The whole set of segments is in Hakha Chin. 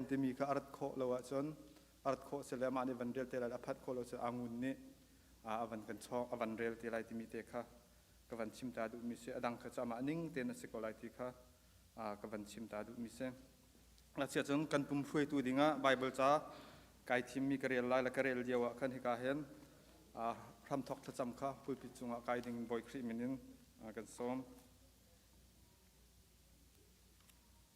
timi kha a rat khawh lo ahcun a rat khawh si le mah nih van rel te lai a phat khawh lo cu angun nih a van kan chawng a van rel te lai timi te kha ka van chim ta duhmi si a dang kha cu amah ning tein a si ko lai ti kha ka van chim ta duhmi si ngakchia cun kan pum hruaitu dingah Bible ca kai thimmi ka rel lai la ka rel lio ah khan hika hin hramthok thlacam kha pulpit cungah kai ding bawi Khrih min in kan sawm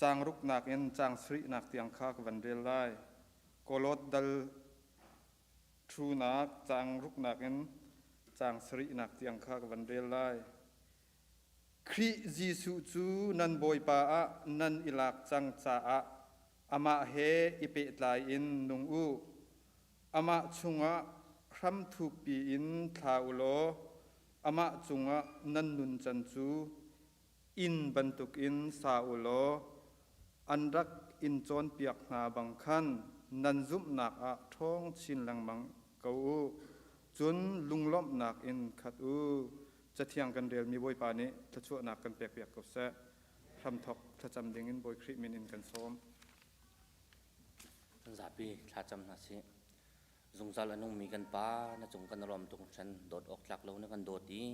Caang ruknak in caang sarihnak tiang kha ka van rel lai. Kolot dal ṭhunak caang ruknak in caang sarihnak tiang kha ka van rel lai. Khrih Jesuh cu nan Bawipa ah nan i lak cang caah amah he i pehtlai in nung u. Amah chungah hram thukpi in thla u law amah cungah nan nuncan cu inn bantukin sa u law an rak in cawnpiak hna bang khan nan zumhnak ah ṭhawng chin lengmang ko u. Cun lunglawmhnak in khat u. Cathiang kan relmi Bawipa nih thluachuahnak kan pekpiak ko seh. Hramthawk thlacam dingin Bawi Khrih min in kan sawm. Kan zapi thlacam hna sih. Zungzal a nungmi kan Pa, na cung kan rom tuk hran. Dawt awk tlak lo na kan dawt i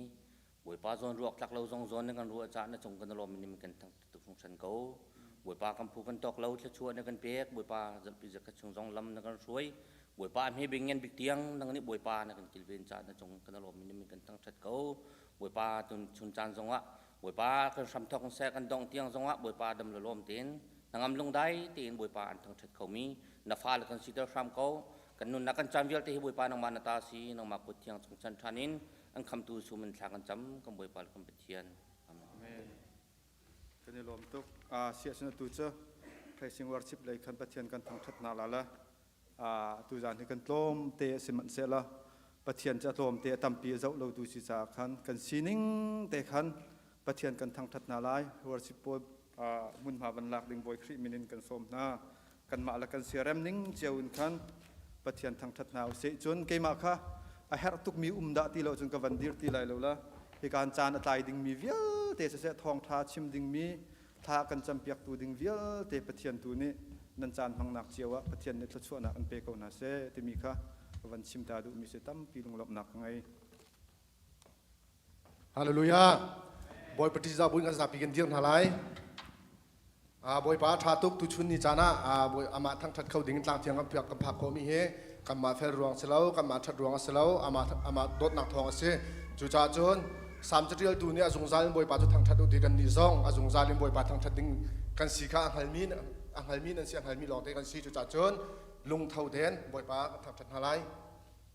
Bawipa zawn ruak tlak lo zong zawn na kan ruah cah na cung kan lawm ni kan tu fung san ko. Bawipa kan phu kan tok lo thla na kan pek Bawipa zampi zakhat chung zong lam na kan hruai. Bawipa mi bing ngen bik tiang nang nih Bawipa na kan kilven cah na cung kan lawm ni kan tang chat ko. Bawipa tun chun caan zong ah Bawipa kan hram thok se kan dong tiang zong ah Bawipa dam la lawm ten nangam lung dai tein Bawipa an thang chat kho mi na fa la kan si tel hram ko kan nun na kan chan vialte hi Bawipa nangma na ta si nangma kut thiang chung chan thanin an khamtu sum in thla kan cam kan bawipa le kan pathian amen kan i lawm tuk siasana tu cu phaising warchip lei khan pathian kan thangthat na la la tu zan hi kan tlawm te a si manh se la pathian ca tlawm te a tampi a zoh lo tu si ca khan kan sining te khan pathian kan thangthat na lai warchip pawl hmunhma van lak ding Bawi Khrih min in kan sawm hna. Kanmah le kan siarem ning cio in khan Pathian thangṭhat hna u sih. Cun keimah kha a herh tukmi um dah ti lo cun ka van dir ti lai lo la. Hikaan caan a tlai dingmi vialte siseh, thawngṭha chim dingmi thla kan campiaktu ding vialte Pathian tu nih nan caan hmangnak cio ah Pathian nih thluachuahnak in pe ko hna seh timi kha ka van chim ta duhmi si tampi lunglawmhnak ka ngei. Hallelujah. Bawipa ṭihzah buin kan zapi kan dir hna lai. Ah, Bawipa ṭha tuk tuchun ni caan ah ah, Bawi- amah thangṭhat kho ding in tlang thiang kan phiak kan phak khawhmi hi kanmah fel ruang si lo, kanmah ṭhat ruang a si lo, amah, amah dawtnak thawng a si. Cucaah cun Salm caṭialtu nih a zungzal in Bawipa cu thangṭhat u ti kan nih zong a zungzal in Bawipa thangṭhat ding kan si kha a hngalmi, a hngalmi nan si, a hngalmi lawngte kan si. Cucaah cun lungtho tein Bawipa kan thangṭhat hna lai.